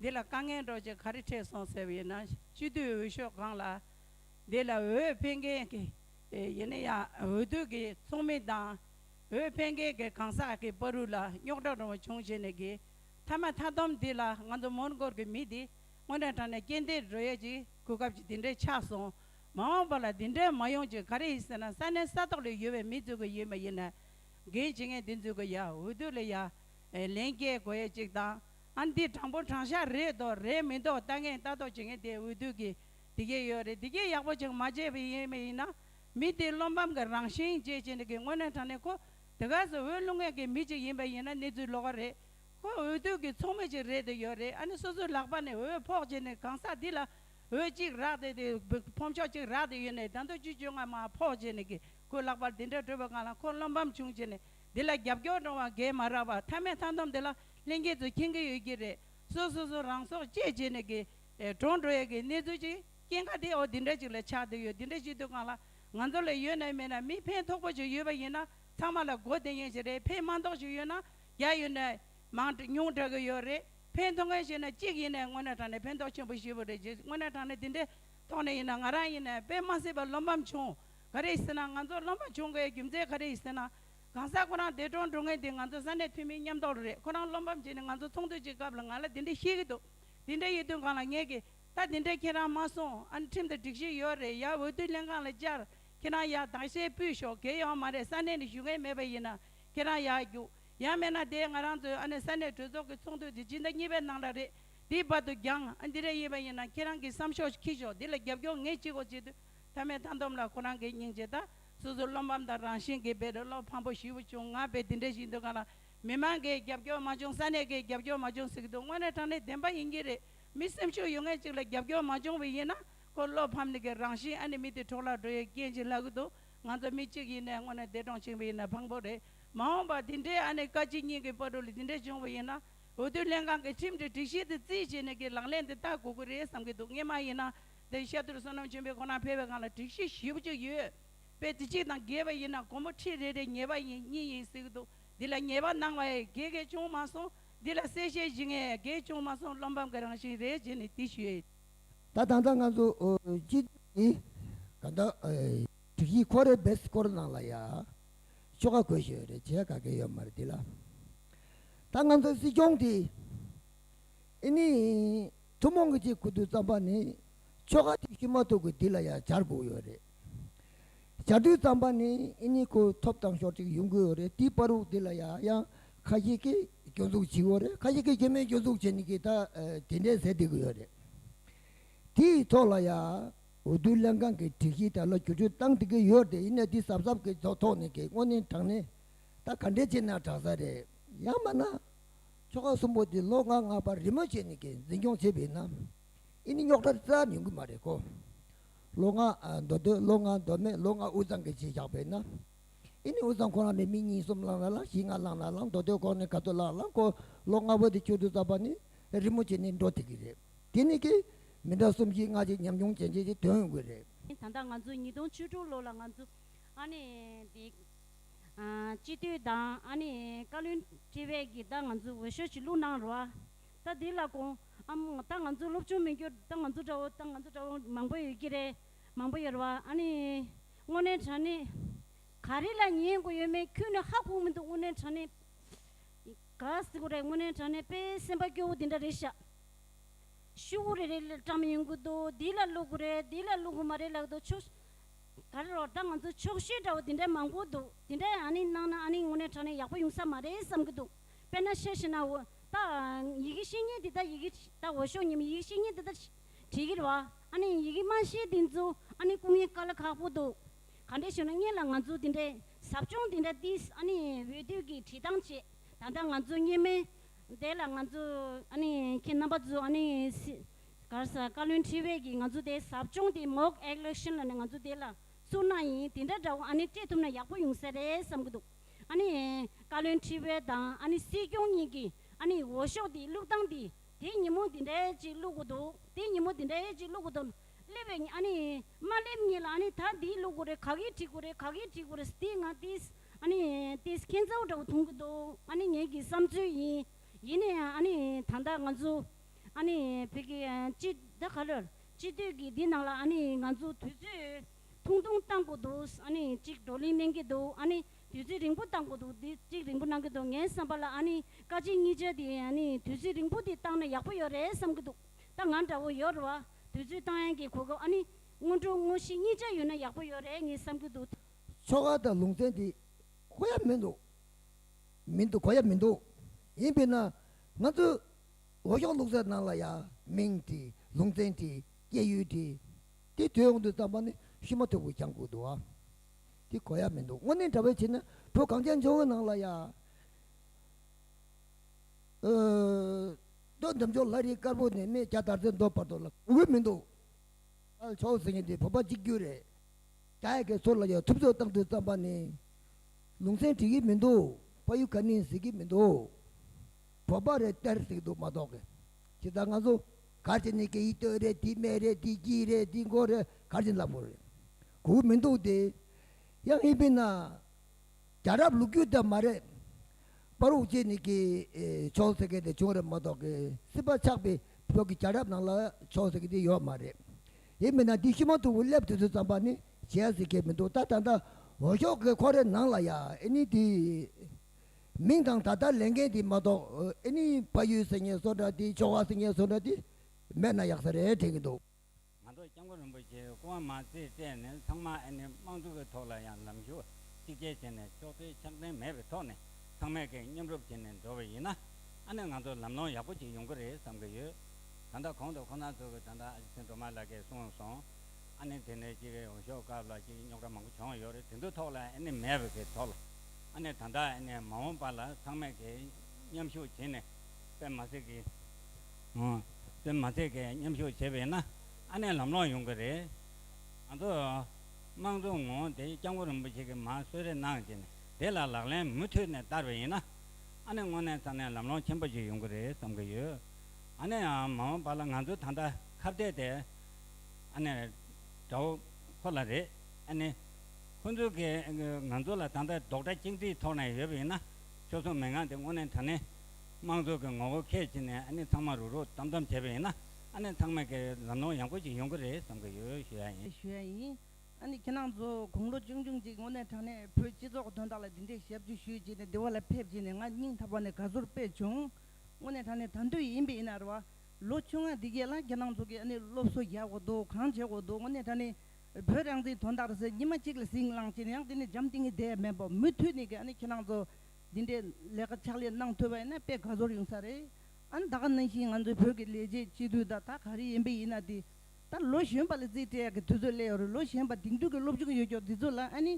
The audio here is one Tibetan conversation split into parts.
འདི་ལ་དཀའ་ངལ་འགྲོ་རྒྱུ་ག་རེ་འཕྲད་སོང་ཟེར་བའི་ནང་སྤྱི་བསྡུས་འོས་ཤོག་ཁང་ལ་འདི་ལ་འོས་འཕེན་མཁན་གྱི་ཡིན་ན་ཡང་འོས་བསྡུ་གི་ཚོགས་མི་དང་འོས་འཕེན་མཁན་གྱི་གང་ཟག་གི་པར་རུས་ལ་རྙོག་དྲ་རང་བྱུང་བྱས་ནས་གི་མཐའ་མ་མཐའ་དོམ་འདི་ལ་ང་ཚོ་མོན་གྷོར་གྱི་མི་འདི་དངོས་གྲངས་དྲགས་ནས་རྐྱེན་འདས་འགྲོ་ཡས་ཀྱི་གོ་སྐབས་ཀྱི་འདི་འདྲས་ཆགས་སོང་མ་འོངས་པ་ལ་འདི་འདྲས་མ་ཡོང་རྒྱུ་ག་རེ་ཡིན་ཟེར་ན་ས་གནས་ས་ཐོག་ལ་ཡོད་པའི་མི་འཛུལ་གི་ཡོད་མ་ཡིན་ན་འགན་བྱེད་མཁན་འདི་འཛུལ་གི་ཡ་འོས་བསྡུ་ལ་ཡ་ལན་རྒྱས་དགོས་ཡས་ཅིག་དང། ཨ་འདི་དྲང་པོ་དྲང་ཤག་རེད་འདོག་རེད་མི་འདོག་ལྟ་ངན་ལྟ་རྟོག་བྱེད་མཁན་དེ་འོས་བསྡུ་གི་དེ་གས་ཡོད་རེད་དེ་གས་ཡག་པོ་ཅིག་མ་བྱས་པའི་ཡིན་མི་ཡིན་ན་མི་དེ་བློ་འབམ་གི་རང་བཞིན་རྗེས་ཅན་དེ་གས་དངོས་གནས་དྲང་གནས་ཁོ་དེ་གས་སུ་འོས་བླུག་མཁན་གི་མི་ཅིག་ཡིན་པ་ཡིན་ན་གནས་ཚུལ་ལོག་ག་རེད་ཁོ་འོས་བསྡུ་གི་ཚོགས་མི་ཅིག་རེད་དེ་ཡོད་རེད་ཨ་ནི་སོ་སོའི་ལག་པ་ནས་འོས་ཕོག་བྱས་ནས་གང་ཟག་འདི་ལ་འོས་གཅིག་རག་དེ་དེ་ཕོམ་ཆོག་ཅིག་རག་དེ་ཡོད་ནས་ཟླ་མདོ་བཅུ་བཅོ་ལྔ་མ་ཕོག་བྱས་ནས་གས་ཁོའི་ལག་པར་དེ་འདྲ་སྤྲོད་པ་གང་ལ་ཁོ་བློ་འབམ་བྱུང་བྱས་ནས་དེ་ལ་རྒྱབ་སྐྱོར་འདྲོང་བ་གས་མ་རག་པ་མཐའ་མའི་མཐའ་འདོམ་དེ་ལ་ལྷན་སྐྱེས་སུ་མཁྱེན་གྱི་ཡོད་ཀྱི་རེད། སོ་སོ་སོ་རང་སྲོག་བཅད་བྱས་ནས་ཀྱི། གྲོངས་འགྲོ་ཡས་ཀྱི་གནས་ཚུལ་ཅིག་རྐྱེན་ཁ་དེའོ་དེ་འདྲ་ཅིག་ལ་ཆགས་བསྡད་ཡོད་དེ་འདྲ་ཞིག་དུས་གང་ལ་ང་ཚོ་ལ་ཡོད་ན་མེད་ན་མི་ཕན་ཐོགས་པོ་ཞིག་ཡོད་པ་ཡིན་ན་ཚང་མ་ལ་སྒོ་དེ་ཡན་ཞིག་རེད་ཕན་མ་མཐོག་ཞིག་ཡོད་ན་རྒྱ་ཡོད་ནས་མང་ཉུང་དྲག་གི་ཡོད་རེད་ཕན་ཐོགས་མཁན་ཞིག་ན་གཅིག་ཡིན་ནས་དངོས་གནས་དྲང་ནས་ཕན་ཐོགས་ཆེན་པོ་ཞེ་བོ་རེད་ཅེས་དངོས་གནས་དྲང་ནས་དེ་འདྲའི་ཐོག་ནས་ཡིན་ན་ང་རང་ཡིན་ནས་དཔེ་མ་སྲིད་པ་བློ་ཕམ་བྱུང་ག་རེ་ཡིན་ཟེར་ན་ང་ཚོ་བློ་ཕམ་བྱུང་གི་ཡོད་རྒྱུ་མཚན་ག་རེ་ཡིན་ཟེར་ན། གང་ཟག་ཁོ་རང་འདས་གྲོངས་འགྲོ་ངེས་དེ་ང་ཚོ་ས་གནས་འཐུས་མིའི་ཉམས་རྟོགས་རེད་ཁོ་རང་བློ་ཕམ་བྱས་ནས་ང་ཚོ་ཚོགས་འདུ་གཅིག་སྐབས་ལ་ང་ལ་དེ་འདྲ་ཤེས་ཀྱི་འདུག་དེ་འདྲ་ཡོད་དུས་གང་ལ་ངས་ཀྱི་ད་དེ་འདྲ་ཁྱེད་རང་མ་གསུང་ཨ་ནི་ཁྲིམས་དང་སྒྲིག་གཞི་ཡོད་རེད་ཡ་འོས་བསྡུ་ལྷན་ཁང་ལ་བཅར་ཁྱེད་རང་ཡ་དྭགས་ཤེས་སྤུས་ཤོག་གེ་ཡོང་མ་རེད་ས་གནས་ནས་ཞུ་མཁན་མེད་པ་ཡིན་ན་ཁྱེད་རང་ཡ་རྒྱུགས་ཡ་མེད་ན་དེ་ང་རང་ཚོའི་ཨ་ནི་ས་གནས་གྲོས་ཚོགས་ཀྱི་ཚོགས་འདུ་དེ་སྤྱི་ཟླ་གཉིས་པའི་ནང་ལ་རེད་དེའི་བར་དུ་འགྱངས་ཨ་འདི་འདྲ་ཡིན་པ་ཡིན་ན་ཁྱེད་རང་གི་བསམ་ཤོག་ཁྱི་ཤོག་དེ་ལ་རྒྱབ་སྐྱོར་ངས་ཅི་དགོས་བྱེད་དུས་མཐའ་མའི་མཐའ་འདོམས་ལ་ཁོ་རང་གི་སྙིང་རྗེ་ད། སོ་སོའི་བློ་ཕམ་དང་རང་བཞིན་གྱི་བེད་སྤྲོད་བློ་ཕམ་པོ་ཞིག་བྱུང་ང་བས་དེ་འདྲའི་ཞིག་འདོད་ག་ལ། མི་མང་གིས་རྒྱབ་སྐྱོར་མ་བྱུང་ས་གནས་ཀྱིས་རྒྱབ་སྐྱོར་མ་བྱུང་ཟེར་གྱི་འདུག་དངོས་གནས་དྲང་གནས་བདེན་པ་ཡིན་གྱི་རེད། མི་སེམས་ཤུགས་ཡོད་མཁན་ཅིག་ལ་རྒྱབ་སྐྱོར་མ་བྱུང་བས་ཡིན་ན་ཁོ་བློ་ཕམ་ནི་གི་རང་བཞིན་ཨ་ནི་མི་དེ་གྲོགས་ལ་འགྲོ་ཡའི་རྐྱེན་ཅིག་ལག་གི་འདུག་ང་ཚོ་མི་གཅིག་ཡིན་ནའི་དངོས་གནས་འདས་གྲོངས་ཕྱིན་པ་ཡིན་ན་ཕངས་པོ་རེད། མ་འོངས་པར་དེ་འདྲའི་ཨ་ནི་བཀའ་སྤྱི་གཉིས་ཀྱི་པར་གྲུ་ལས་དེ་འདྲ་བྱུང་བ་ཡིན་ན་འོས་བསྡུ་ལྷན་ཁང་གི་ཁྲིམས་སྒྲིག་སྒྲིག་གཞི་དེ་རྩིས་བྱས་ནས་གི་ལག་ལེན་དེ་བསྟར་དགོས་ཀྱི་རེད་བསམ་གྱི་འདུག་ངས་མ་ཡིན་ན་དེའི་ཤར་དུར་བསོད་ནམས་ཆེན་པོའི་ཁོ་ན་འཕེལ་བའི་སྒང་ལ་དྲུག་ཤུ་བཞི་བཅུ་ཡོད་པས་དེ་གཅིག་དང་བརྒྱད་པ་ཡིན་ན་གོང་མ་ཁྲི་རེ་རེ་ཉེས་པ་ཡིན་གཉིས་ཡིན་ཟེར་གྱི་འདུག་འདི་ལ་ཉེས་པ་སྣང་བ་ཡི་གེ་གེ་ཅུང་མ་སོང་འདི་ལ་གསལ་བཤད་བཞི་ངའི་ཡི་གེ་ཅུང་མ་སོང་བློ་ཕམ་གྱི་རང་བཞིན་རེད་རྗེས་ནས་དེ་ཞུས། ད་ད་ལྟ་ང་ཚོ་སྤྱི་འཐུས་ཀྱི་ག་ད་དྲུག་བཞི་ཁོ་རེ་བེད་སྐོར་གནང་ལ་ཡ་ཆོ་ག་གོ་ཞོད་རེད་བྱས་ག་གེ་ཡོད་མ་རེད་འདི་ལ་ད་ང་ཚོ་སྲིད་སྐྱོང་དེ་ཨི་ནི་ཐུན་མོང་གི་སྤྱིའི་ཁུ་རྡུལ་རྩམ་པ་ནི་ཆོ་ག་ཐིག་བཞི་མ་ཐུག་གི་འདི་ལ་ཡང་སྦྱར་དགོས་ཡོད་རེད། བྱ་རྡུལ་རྩམ་པ་ནི་ཨི་ཉི་ཁུ་ཐོབ་དང་ཞོར་ཅིག་ཡོང་གི་ཡོད་རེད་དེའི་སྤར་དབུགས་འདི་ལ་ཡང་ཡང་ཁ་ཞིག་གིས་སྐྱོན་འཛུགས་བྱེད་ཡོད་རེད་ཁ་ཞིག་གིས་སྐྱོན་མེད་སྐྱོན་འཛུགས་བྱེད་ནི་གིས་ད་དེ་འདྲའི་ཟས་སྡིག་གི་ཡོད་རེད། དེའི་ཐོག་ལ་ཡང་འོས་བསྡུ་ལྷན་ཁང་གིས་སྒྲིག་གཞི་དག་ལ་བསྒྱུར་བཅོས་གཏང་སྡིག་གི་ཡོད་རེད་ཡིན་ནའི་འདི་ཟབ་ཟབ་ཀྱི་ཐོག་ནས་ཀྱི་དངོས་གནས་དྲང་ནས་ད་ག་འདྲས་བྱས་ན་དྲང་ས་རེད་ཡང་མ་ན་ཆོ་ག་གསུམ་པོ་འདི་ལོ་ང་ལྔ་པར་རི་མོ་བྱས་ནས་ཀྱི་འཛིན་སྐྱོང་བྱེད་པས་ན་ཨི་ནི་རྙོག་དྲ་རྩ་ཉུང་གི་མ་རེད་ཀོ། ལོ་ང་མདོ་སྟོད་ལོ་ང་མདོ་སྨད་ལོ་ང་དབུས་གཙང་གི་ཅེས་བཞག་པས་ན་ཨི་ནི་དབུས་གཙང་ཁོ་རང་པའི་མི་གཉིས་གསུམ་བླངས་ན་བླངས་བཞི་ལྔ་བླངས་ན་བླངས་མདོ་སྟོད་ཁོག་ནས་ག་ཚོད་བླངས་བླངས་ཀོ་ལོ་ང་བོ་དེ་ཆུ་དུ་བཙགས་པ་ནི་རི་མོ་བྱས་ནས་འགྲོ་ཐུབ་ཀྱི་རེད་དེ་ནི་ཀྱི་མི་འདྲ་གསུམ་བཞི་ལྔ་གཅིག་ཉམས་ཆུང་ཅན་བྱས་ཀྱི་དོན་དགོས་རེད། ད་ལྟ་ང་ཚོ་ཉིས་སྟོང་བཅུ་དྲུག་ལོ་ལ་ང་ཚོ་ཨ་ནི་དེ། སྤྱི་འཐུས་དང་ཨ་ནི་བཀའ་བློན་ཁྲི་བས་ཀྱིས་ད་ང་ཚོའི་འོས་ཤོག་ཆི་ལུག་གནང་རོགས་ཨ། ད་དེ་ལ་དགོངས་ཨམ། ད་ང་ཚོའི་སློབ་ཆུང་མི་འགྱུར་ད་ང་ཚོ་འདྲ་བོ་ད་ང་ཚོ་འདྲ་བོ་མང་པོ་ཡོད་ཀྱི་རེད་མང་པོ་ཡོད་རེད་བ་ཨ་ནི། དངོས་གནས་དྲ་གནས་ག་རེ་ལ་ཉན་དགོས་ཡོད་མེད་ཁྱོད་ནི་ཧ་གོ་མི་འདུག་དངོས་གནས་དྲ་གནས་ག་ཟེ་གོ་རེད་དངོས་གནས་དྲ་གནས་དཔེ་སེམས་པ་སྐྱོ་བོ་དེ་འདྲ་རེད་ཤག། ཤུ་བོ་རེ་རེ་ལ་བཀྲམ་ཡོང་གི་འདུག་དེ་ལ་བླུག་གོ་རེད་དེ་ལ་བླུག་གོ་མ་རེད་ལགས་འདུག་ཆོག་ཤེས། ག་རེ་རོགས་ད་ང་ཚོ་ཕྱོགས་བཤུས་འདྲ་བོ་དེ་འདྲ་མང་པོ་འདུག་དེ་འདྲ་ཡང་ཨ་ནི་གནང་ན་ཨ་ནི་དངོས་གནས་དྲ་གནས་ཡག་པོ་ཡོང་ས་མ་རེད་བསམ་གྱི་འདུག་དཔེར་ན་བཤད་ཤེས་ན་འོ་ད་ཡི་གེ་ཤེས་ཉེན་དེ་ད་ཡི་གེ་ད་འོ་ཤོག་ཉི་མ་ཡི་གེ་ཤེས་ཉེན་དེ་ད་བྲིས་གྱིར་བ་ཨ་ནི་ཡི་གེ་མ་ཤེས་དེ་ཚོ་ཨ་ནི་སྐུ་ངལ་དཀའ་ལ་ཁག་པོ་འདུག་ག་འདྲས་བྱུང་ན་བརྙན་ལ་ང་ཚོ་དེ་འདྲས་ཟབ་སྦྱོང་དེ་འདྲ་དེས་ཨ་ནི་འོས་བསྡུ་གི་བྲིས་ཐང་བྱེད་ད་ད་ང་ཚོ་བརྙན་མེད་དེ་ལ་ང་ཚོ་ཨ་ནི་ཁྱེད་རྣམ་པ་ཚོ་ཨ་ནི་སི། གར་ས་བཀའ་བློན་ཁྲི་བས་ཀྱིས་ང་ཚོ་དེ་ཟབ་སྦྱོང་དེ Mock Eleclition ལ་ནས་ང་ཚོ་དེ་ལ་སུར་ནག་ཡིན་དེ་འདྲ་འདྲ་བོ་ཨ་ནི་སྤྲད་ཐུབ་ན་ཡག་པོ་ཡོང་ས་རེད་བསམ་གི་འདུག་ཨ་ནི་བཀའ་བློན་ཁྲི་བས་དང་ཨ་ནི་སྲིད་སྐྱོང་གཉིས་ཀྱིས་ཨ་ནི་འོ་ཤོག་དེ་བླུག་སྟངས་དེ་དེ་ཉིན་མོ་དེ་འདྲའི་ཅིག་བླུག་གི་འདུག་དེ་ཉིན་མོ་དེ་འདྲའི་ཅིག་བླུག་གི་འདུག་སླེབས་པའི་ཉིན་ཨ་ནི་མ་སླེབས་ཉིན་ལ་ཨ་ནི་ད་འདི་བླུག་གི་རེད་ག་གིས་བྲིས་གི་རེད་ག་གིས་བྲིས་གི་རེད་དེ་ང་དེས་ཨ་ནི་དེས་ཁེན་ཚ་བོ་འདྲ་བོ་འཐུང་གི་འདུག་ཨ་ནི་ངེད་ཀྱི་བསམ་ཚུལ་ཡིན་ཡིན་ནའང་ཨ་ནི་ད་ལྟ་ང་ཚོ། ཨ་ནི་བོད་ཀྱི་སྤྱི་བདེ་ག་རེ་སྤྱི་བསྟོད་ཀྱི་དེ་ནང་ལ་ཨ་ནི་ང་ཚོ་དུས་ཚོད་ཐུང་ཐུང་གཏང་དགོས་འདུག་ཨ་ནི་གཅིག་བགྲོ་གླེང་གནང་གི་འདུག་ཨ་ནི་དུས་ཚོད་རིང་པོ་གཏང་དགོས་འདུག་དེ་གཅིག་རིང་པོ་གནང་གི་འདུག་ངའི་བསམ་པ་ལ་ཨ་ནི་བཀའ་སྤྱི་གཉིས་ཆ་དེ་ཨ་ནི་དུས་ཚོད་རིང་པོ་དེ་གཏང་ན་ཡག་པོ་ཡོད་རེད་བསམ་གི་འདུག་ད་ང་འདྲ་བོ་ཡོད་རེད་བ་དུས་ཚོད་གཏང་ཡན་གྱི་གོ་སྐབས་ཨ་ནི་སྔོན་འགྲོ་དངོས་གཞི་གཉིས་ཆ་ཡོད་ན་ཡག་པོ་ཡོད་རེད་ངས་བསམ་གི་འདུག། ཆོ་ག་དང་ལུང་ཚན་དེ་གོ་ཡ་མི་འདུག་མི་འདུག་གོ་ཡ་མི་འདུག་ཡིན་པས་ན་ང་ཚོས་ལོ་ཤོག་ལུག་རྫས་རྣམས་ལ་ཡང་མིང་དེ་ལུང་ཚན་དེ་སྐྱེས་ཡུལ་དེ་དེ་དོན་དབང་དུ་བརྩམས་པ་ནི་ཤུལ་མ་ཐོད་པོ་གྱང་གུག་འདུག་ཨ། དེ་གོ་ཡ་མི་འདུག་དངོས་གནས་འདྲ་བས་བྱས་ན་བྲོ་གངས་ཅན་ལྗོངས་ནང་ལ་ཡང། མདོ་འདེམས་ཆོག་ལྷ་རིའི་དཀར་པོ་ནས་སྨད་རྒྱ་དར་རྩེ་མདོ་བར་དུ་ལ་འུར་མི་འདུག་ཨ། ཆོག་ཟེར་མཁན་དེ་བོད་པ་གཅིག་གྱུར་རེད། རྒྱ་ཡི་གའི་ཚོགས་ལ་ཡང་ཐུབ་ཚོད་བཏང་དུ་བརྩམས་པ་ནི་ལུང་ཚན་བྲིས་ཀྱི་མི་འདུག་ཕ་ཡུལ་ག་ནི་ཟེར་གྱི་མི་འདུག། བོད་པ་རེད་སྟེར་ཟིག་འདུག་མ་གཏོགས་གི་ཇི་ལྟར་ང་ཚོ་གར་བྱེད་ནི་སྐད་ཡིག་སྟོད་རེད་དེ་སྨད་རེད་དེ་སྐྱིད་རེད་དེ་མགོ་རེད་གར་བྱེད་ལབ་དགོས་རེད་གོ་གི་མི་འདུག་དེ་ཡང་ཧི་པི་ན་རྒྱ་རབ་ལུགས་རྒྱུད་དེ་མ་རེད་པ་རུག་བྱེད་ནི་གི་ཆོག་ཟེར་མཁན་དེ་བྱུང་རེད་མ་གཏོགས་གི་སྲིད་པ་ཆགས་པའི་བོད་ཀྱི་རྒྱ་རབ་ནང་ལ་ཆོག་ཟེར་མཁན་དེ་ཡོད་མ་རེད་ཧི་པི་ན་དེ་ཤི་མ་ཐུབ་བུ་སླེབ་དུས་ཚོད་ཙམ་པ་ནི་བྱེད་ཟེར་མཁན་མི་འདུག་ད་ད་ལྟ་འོ་ཞོག་གི་ཁོ་རེ་ནང་ལ་ཡ་ཨེ་ནི་དེ། མིང་དང་ད་ལྟ་ལས་མཁན་དེ་མ་གཏོགས་ཨེ་ནི་ཕ་ཡུལ་ཟེར་མཁན་སོགས་འདྲ་དེ་ཕྱོགས་ཁག་ཟེར་མཁན་སོགས་འདྲ་དེ་མེད་ན་ཡག་ས་རེད་དྲན་གྱི་འདུག། ང་ཚོ་སྐྱབས་མགོན་རིན་པོ་ཆེའི་སྐུ་དབང་མ་རྩིས་སྤྲད་ནས་ཚང་མ་ཨེ་ནི་དམངས་གཙོ་གི་ཐོག་ལ་ཡང་ལམ་ཞུ་བ་གཅིག་རྗེས་བྱས་ནས་ཕྱོགས་འཐུས་ཕྱག་འཚན་མེད་པའི་ཐོག་ནས་ཚང་མས་སྐད་མཉམ་རུབ་བྱས་ནས་འགྲོ་བ་ཡིན་ན་ཨ་ནི་ང་ཚོ་ལམ་ལྷོང་ཡག་པོ་གཅིག་ཡོང་གི་རེད་བསམ་གྱི་ཡོད། ད་ལྟ་གོང་དུ་ཁོ་ན་ཚོ་གི་ད་ལྟ་ཨ་ཅེ་སེང་སྒྲོལ་མ་ལགས་ཀྱིས་གསུངས་སོང་ཨ་ནི་དེ་ནས་གཅིག་རེད་འོ་ཞོག་སྐབས་ལ་གཅིག་རྙོག་དྲ་མང་པོ་བྱུང་ཡོད་རེད་དེ་ཚོའི་ཐོག་ལ་ཨེ་ནི་མེད་པའི་ཐོག་ལ། ཨ་ནེ་ད་ལྟ་ཨ་ནེ་མ་འོངས་པ་ལ་ཚང་མས་ཀྱིས་མཉམ་ཞུགས་བྱེད་ནས་པད་མ་ཚེ་གིས་པད་མ་ཚེ་གིས་མཉམ་ཞུགས་བྱེད་པས་ན་ཨ་ནེ་ལམ་ལོང་ཡོང་གི་རེད། ང་ཚོ་དམངས་གཙོ་ངོ་དེ་སྐྱབས་མགོན་རིན་པོ་ཆེ་གིས་མ་གསོལ་རེ་གནང་རྗེས་ནས་དེ་ལ་ལག་ལེན་མུ་མཐུད་ནས་བསྟར་བས་ཡིན་ན་ཨ་ནེ་དངོས་གནས་ཚང་ནས་ལམ་ལོང་ཆེན་པོ་ཞིག་ཡོང་གི་རེད་བསམ་གྱི་ཡོད། ཨ་ནེ་ཡང་མ་འོངས་པ་ལ་ང་ཚོ་ད་ལྟ་ཁ་བརྡས་དེ་ཨ་ནེ་འདྲ་བོ་ཁོ་ལ་རེད་ཨ་ནེ། ཁོ་ཚོས་ཀྱིས་ང་ཚོ་ལ་ད་ལྟ་རྡོག་སྒྲ་གཅིག་འདྲིས་ཐོག་ནས་ཡོད་པ་ཡིན་ན། ཁྱོད་ཚོ་མི་འགངས་ཏེ་སྔོན་ནས་ད་ནི། དམངས་གཙོ་གི་ངོ་བོ་ཁས་འཆེ་ནས་ཨ་ནི་ཚང་མ་རུག་རུག་དམ་དམ་བྱས་པ་ཡིན་ན། ཨ་ནི་ཚང་མས་ཀྱིས་ལམ་ལྷོང་ཡག་པོ་ཞིག་ཡོང་གི་རེད་བསམ་གྱི་ཡོད་ཞུ་ཡ་ཡིན། ཞུ་ཡ་ཡིན། ཨ་ནི་ཁྱེད་རང་ཚོ་དགུང་ལོ་ཅུང་ཆུང་ཅིག་སྔོན་ནས་དྲང་གནས་བོད་སྤྱི་ཚོགས་དོན་དག་ལ་འདི་འདྲའི་ཞབས་ཞུ་ཞུས་རྗེས་ནས་སྡེ་བ་ལ་ཕེབས་རྗེས་ནས་ང་སྙིང་ཐག་པ་ནས་དགའ་བསུར་སྤེལ་བྱུང། སྔོན་ནས་དྲང་གནས་དར་མདོ་ཡིན་པས་ཡིན་ནའི་རེད་བ། ལོ་བཅོ་ལྔ་འདི་རྒྱལ་ལ་ཁྱེད་རང་ཚོ་གིས་ཨ་ནི་སློབ་གསོ་རྒྱག་འོག་འདུག་གང་བྱེད་འོག་འདུག་སྔོན་ནས་དྲང་གནས་བོད་རང་བཙན་དོན་དག་རེད་ཟེར་ཉི་མ་གཅིག་ལ་ཟིང་བསླངས་བྱས་ན་ཡང་དེ་ནི་འཇམ་ཐིང་གི་སྡེ་མིན་པ་མུ་མཐུད་ནས་ཀྱང་ཁྱེད་རང་ཚོ་འདི་འདྲའི་ལས་ཀ་ཕྱག་ལས་གནང་ཐུབ་པ་ཡིན་ན་དཔེ་དགའ་ཚོར་ཡོང་ས་རེད་ཨ་ད་ག་ནང་བཞིན་ང་ཚོའི་བོད་ཀྱི་ལས་བྱེད་སྤྱི་འཐུས་དག་ད་ག་རེ་ཡིན་པའི་ཡིན་ན་དེ་ལྟར་ལོ་གཞོན་པ་ལ་རྩིས་སྤྲད་ཡག་གི་དུས་ཚོད་སླེ་ཡོད་རེད་ལོ་གཞན་པ་དེང་དུས་ཀྱི་སློབ་སྦྱོང་ཡོད་སྐྱོར་དེ་ཚོ་ལ་ཨ་ནི་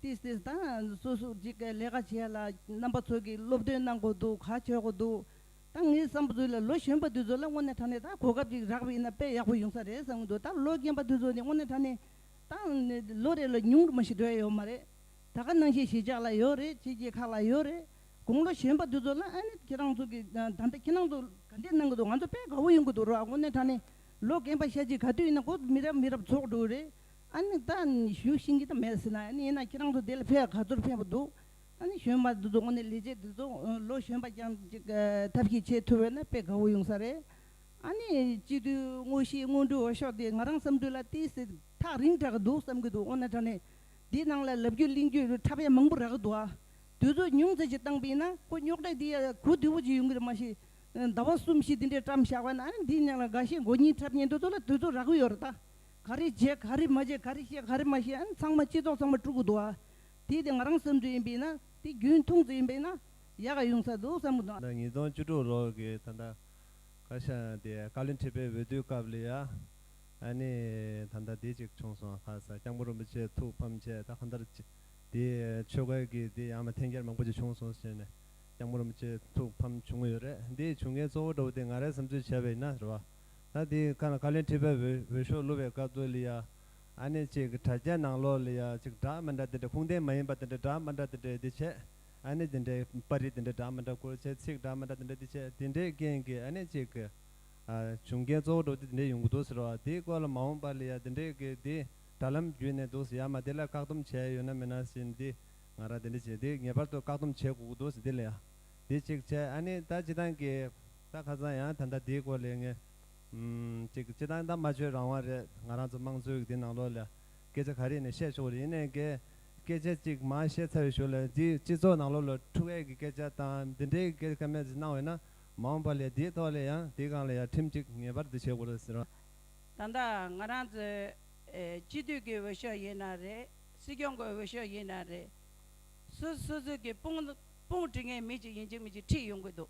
ཏིས་ཏིས་དང་སུ་སུ་ཅིག་གི་ལས་ཀ་བྱས་ལ་རྣམ་པ་ཚོ་གི་སློབ་སྟོན་གནང་དགོས་འདུག་ག་བྱེད་དགོས་འདུག། ད་ངའི་བསམ་ཚུལ་ལ་ལོ་གཞོན་པ་དེ་ཚོ་ལ་དངོས་གནས་དྲ་གནས་དག་གོ་སྐབས་ཅིག་རག་པའི་ན་དཔེ་ཡག་པོ་ཡོང་ས་རེད་བསམ་གྱི་འདུག་ད་ལོ་རྒན་པ་དེ་ཚོ་ནི་དངོས་གནས་དྲ་གནས་དང་ལོ་རེ་ལ་ཉུང་རུ་མ་ཞིག་འགྲོ་ཡ་ཡོད་མ་རེད་ད་ག་ནང་བཞིན་གཞིས་ཆགས་ལ་ཡོད་རེད་ཕྱི་རྒྱལ་ཁག་ལ་ཡོད་རེད་དགོངས་ལོ་གཞོན་པ་དེ་ཚོ་ལ་ཨ་ནི་ཁྱེད་རང་ཚོ་གི་ད་ལྟ་ཁྱེད་རང་ཚོ་ག་འདྲས་གནང་གི་འདུག་ང་ཚོ་དཔེ་དགའ་བོ་ཡོང་གི་འདུག་རོགས་དངོས་གནས་དྲ་གནས་ལོ་རྒན་པ་ཤ་ཅིག་ག་དུས་ཡིན་ན་ཁོ་ཚོ་མི་རབས་མི་རབས་འཚོགས་འགྲོ་གི་རེད་ཨ་ནི་ད་ནི་ཞུ་ཤིང་གི་ད་མེད་ཟེར་ན་ཡིན་ན་ཁྱེད་རང་ཚོ་དེ་ལ་ཕེ་ག་ཚོར་ཕན་པ་འདུག་ད་ནི་གཞོན་པ་འདུ་ཚོགས་ནས་ལས་བྱེད་འདུ་ཚོགས་ལོ་གཞོན་པ་རྐྱང་ཐབས་ཤེས་བྱེད་ཐུབ་འོས་ན་དཔེ་དགའ་བོ་ཡོང་ས་རེད། ཨ་ནི་སྤྱི་འཐུས་དངོས་གཞི་དངོས་འབྲུ་འོ་ཤོག་དེ་ང་རང་བསམ་འགྲུས་ལ་ཏི་སེ་ཐག་རིང་དྲག་གི་འདུག་བསམ་གི་འདུག་འོ་ན་དྲ་ནས་དེ་ནང་ལ་ལབ་རྒྱུ་གླེང་རྒྱུ་འཕྲ་ཕལ་མང་པོ་རག་གི་འདུག་ཨ། དུས་ཚོད་ཉུང་ཙེ་ཞིག་བཏང་པ་ཡིན་ན་ཁོ་རྙོག་དྲ་དེ་ཡང་གོ་བདེ་བོ་ཅིག་ཡོང་གི་རེད་མ་གཞི་ཟླ་བ་གསུམ་བཞི་དེ་འདྲའི་བཀྲམ་བཞག་པ་ན་ཨ་ནི་འདི་ནང་ལ་དགའ་ཞེན་མགོ་གཉིས་འཁྲབ་ཉེན་དུ་ཚོ་ལ་དུས་ཚོད་རག་གི་ཡོད་རེད་ད། ག་རེ་བྱེད་ག་རེ་མ་བྱེད་ག་རེ་བཤད་ག་རེ་མ་བཤད་ཨ་ནི་ཚང་མ་སྤྱི་ཚོགས་ཚང་མ་དཀྲུག་གི་འདུག་ཨ། དེས་ཀྱང་རང་བསམ་ཚུལ་ཡིན་པས་ན་དེ་རྒྱུན་མཐོང་ཚུལ་ཡིན་པས་ན་ཡག་ཡོང་ས་འདུག་བསམ་མི་འདུག། ཟླ་ཉིས་སྟོང་བཅུ་དྲུག་ལོར་གྱི་ད་ལྟ་བཀའ་ཤག་དེ་བཀའ་བློན་ཁྲི་པའི་འོས་བསྡུའི་སྐབས་ལ་ཡ་ཨ་ནི་ད་ལྟ་དེ་ཅིག་བྱུང་སོང་ཁ་ས་སྐྱབས་མགོན་རིན་པོ་ཆེ་ཐུགས་ཕམ་ཆེ་ད་གང་ལྟར་དེ་ཆོས་སྐལ་གྱི་དེ་ཡང་ན་འཐེན་འཁྱེར་མང་པོ་ཅིག་བྱུང་སོང་ཟེར་ནས་སྐྱབས་མགོན་རིན་པོ་ཆེ་ཐུགས་ཕམ་བྱུང་གི་ཡོད་རེད་དེ་བྱུང་མཁན་གཙོ་བོ་འདྲ་བོ་དེ་ང་རེད་བསམ་ཚུལ་བྱས་པ་ཡིན་ན་རེད་བ། ད་དེ་ཁ་ན་བཀའ་བློན་ཁྲི་པའི་འོས་འོས་ཤོག་བླུ་བའི་སྐབས་དུ་ལ་ཡ་ཨ་ནི་ཅིག་དྲ་རྒྱའི་ནང་ལོགས་ལ་ཡང་ཅིག་སྒྲ་མི་འདྲ་དེ་འདྲ་ཁུངས་ལྡན་མ་ཡིན་པ་དེ་འདྲ་སྒྲ་མི་འདྲ་དེ་འདྲ་འདི་བྱེད་ཨ་ནི་དེ་འདྲའི་པར་རིས་དེ་འདྲ་སྒྲ་མི་འདྲ་སྐོར་བྱེད་ཚིག་སྒྲ་མི་འདྲ་དེ་འདྲ་འདི་བྱེད་དེ་འདྲའི་རྐྱེན་གྱིས་ཨ་ནི་ཅིག་གི་བྱུང་རྐྱེན་གཙོ་བོ་འགྲོ་དེ་དེ་འདྲའི་ཡོང་གི་འདུག་ཟེར་བ་དེའི་སྐོར་ལ་མ་འོངས་པ་ལ་ཡང་དེ་འདྲའི་གི་འདི་དྲ་ལམ་བརྒྱུད་ནས་འདུག་ཟེར་ཡ་མ་དེ་ལ་བཀག་སྡོམ་བྱས་ཡོད་ན་མི་ན་ཟིན་འདི་ང་རང་དེ་འདྲ་བྱེད་འདི་ངེས་པར་དུ་བཀག་སྡོམ་བྱེད་དགོས་ཀྱི་འདུག་ཟེར་འདི་ལ་ཡང་འདི་ཅིག་བྱེད་ཨ་ནི་ད་ཇི་ལྟང་གི་ད་ཁ་སང་ཡང་ད་ལྟ་འདིའི་སྐོར་ལས་ངས། ཅིག་སྤྱི་བཏང་ད་མ་བྱོས་རང་དབང་རེད་ང་རང་ཚོ་དམངས་གཙོའི་གི་དེ་ནང་ལོགས་ལ་སྐད་ཆ་ག་རེ་ཡིན་ན་བཤད་ཆོག་རེད་ཡིན་ནའི་གི་སྐད་ཆ་ཅིག་མ་བཤད་ཚར་བའི་ཞོར་ལ་འདི་སྤྱི་ཚོགས་ནང་ལོགས་ལ་ཁྲུ་གས་གི་སྐད་ཆ་དང་འདི་འདྲའི་གི་སྐད་ཆ་ག་མེད་ཟིག་གནང་བས་ན་མ་འོངས་པ་ལས་དེའི་ཐོག་ལ་ཡང་དེ་གང་ལ་ཡང་ཁྲིམས་ཅིག་ངེས་པར་དུ་བྱེད་དགོས་རེད་ཟེར་བ། ད་ལྟ་ང་རང་ཚོ་སྤྱི་འཐུས་ཀྱི་འོས་ཤོག་ཡིན་ན་རེད་སྲིད་སྐྱོང་གི་འོས་ཤོག་ཡིན་ན་རེད་སུ་སུ་ཚོད་ཀྱི་དཔུང་དཔུང་སྒྲིག་ངེས་མི་ཅིག་ཡིན་གཅིག་མིན་གཅིག་ཁྲིད་ཡོང་གི་འདུག།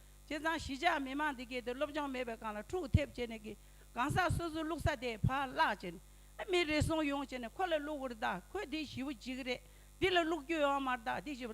བྱས་ཙང་གཞིས་ཆགས་མི་མང་འདི་གའི་དུ་སློབ་སྦྱོང་མེད་པའི་སྒང་ལ་འཁྲུག་ཐེབས་བྱས་ནས་གི་གང་ཟག་སོ་སོའི་བླུགས་ས་དེ་བར་བརླག་བྱས་ནས་མི་རེ་ཟུང་ཡོང་བྱས་ནས་ཁོ་ལ་བླུགས་བར་གདའ་ཁོས་འདི་ཞི་བོ་ཅིག་རེད་འདི་ལ་བླུགས་རྒྱུ་ཡོང་མར་གདའ་འདི་ཞི་བོ་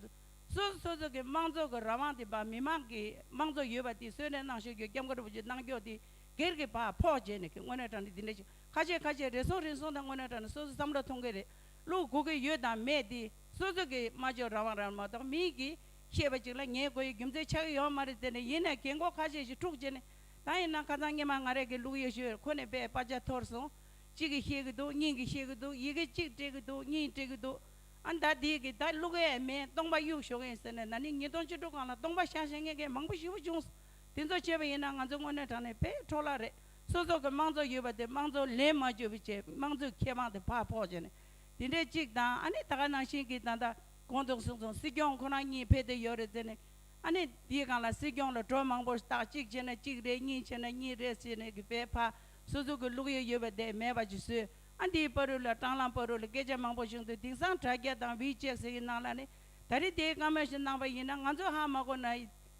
སོ་སོ་སོ་སོ་གི་མང་ཚོགས་ཀྱི་རང་དབང་དེ་བར་མི་མང་གི་མང་ཚོགས་ཡོད་པ་དེ་གསོན་རེ་གནང་ཞོར་གྱོད་སྐྱབས་མགོ་གྲུ་བོ་ཆེ་གནང་སྐྱོགས་དེ་སྒེར་གྱི་བར་ཕོག་བྱས་ནས་གི་དངོས་གནས་དྲ་འདི་འདི་འདྲ་ཞིག་ཁ་ཤས་ཁ་ཤས་རེ་ཟུང་རེ་ཟུང་དང་དངོས་གནས་དྲ་འདི་སོ་སོའི་བསམ་བློ་ཐོང་གི་རེད་བླུགས་དགོས་ཀྱི་ཡོད་དང་མེད་དེ་སོ་སོ་གི་སྨྲ་བརྗོད་རང་དབང་རང་མ་གཏོགས་མིའི་གི་ཤེས་པ་ཅིག་ལ་ངའི་སྒོ་ཡི་རྒྱུ་མཚན་ཆགས་ཀྱི་ཡོད་མ་རེད་དེ་ནས་ཡིན་ནའི་གེ་མགོ་ཁ་ཤས་ཤིག་འཁྲུག་རྗེས་ནས་ད་ཡིན་ན་ཁ་ཚང་སྙེ་མ་ང་རེད་གི་ལུག་ཡོད་ཤོད་ཁོ་ནས་བས་པ་ཇག་ཐོར་སོང། གཅིག་གིས་ཤེས་ཀྱི་འདུག་གཉིས་ཀྱིས་ཤེས་ཀྱི་འདུག་ཡི་གེ་གཅིག་སྤྲད་ཀྱི་འདུག་གཉིས་སྤྲད་ཀྱི་འདུག་ཨ་མདའ་དེས་གི་ད་ལུག་ཨེ་ཨེ་མེད་སྟོང་པ་གཡུག་ཞོག་ཨེ་ཟེར་ནས་ན་ནིང་ཉིས་སྟོང་བཅུ་དྲུག་གང་ལ་སྟོང་པ་ཤ་ཞེན་ངེས་མཁན་མང་པོ་ཞི་བོ་བྱུང་སོང་དེ་ཚོ་བྱས་པ་ཡིན་ན་ང་ཚོའི་དངོས་གནས་དྲང་གནས་པས་འཕྲོག་བརླག་རེད་སོ་སོ་གི་དམངས་གཙོ་ཡོད་པ་དེ་དམངས་གཙོ་ལན་མ་བརྒྱུད་པའི་ཆེད་དམངས་གཙོའི་ཁེ་དབང་དེ་ཕར་ཕོག་བྱས་ནས་དེ་འདྲའི་གཅིག་དང་ཨ་ནི་ད་ག་ནང་བཞིན་གི་ད་ལྟ། གོང་དུ་གསུངས་སོང་སྲིད་སྐྱོང་ཁོ་རང་གཉིས་ཕེབས་དུས་ཡོད་རེད་ཟེར་ནས། ཨ་ནི་དེའི་སྒང་ལ་སྲིད་སྐྱོང་ལ་གྲོས་མང་པོ་བཏགས་གཅིག་བྱས་ན་གཅིག་རེད་གཉིས་བྱས་ན་གཉིས་རེད་ཟེར་ནས་གི་བས་ཕ་སོ་སོ་གི་ལུགས་ཡོད་ཡོད་པ་དེ་མེད་པ་ཅིག་བཟོས་ཨ་འདིའི་པ་རུ་ལ་སྤྲང་ལམ་པ་རུ་ལ་སྐད་ཆ་མང་པོ་བྱུང་དུས་དེང་སང་དྲ་རྒྱ་དང་བྷི་ཅེག་ཟེར་གི་ནང་ལ་ནི་ད་རེས་དེའི་བཀའ་མོལ་ཞིག་གནང་པ་ཡིན་ན་ང་ཚོ་ཧ་མ་གོ་ན་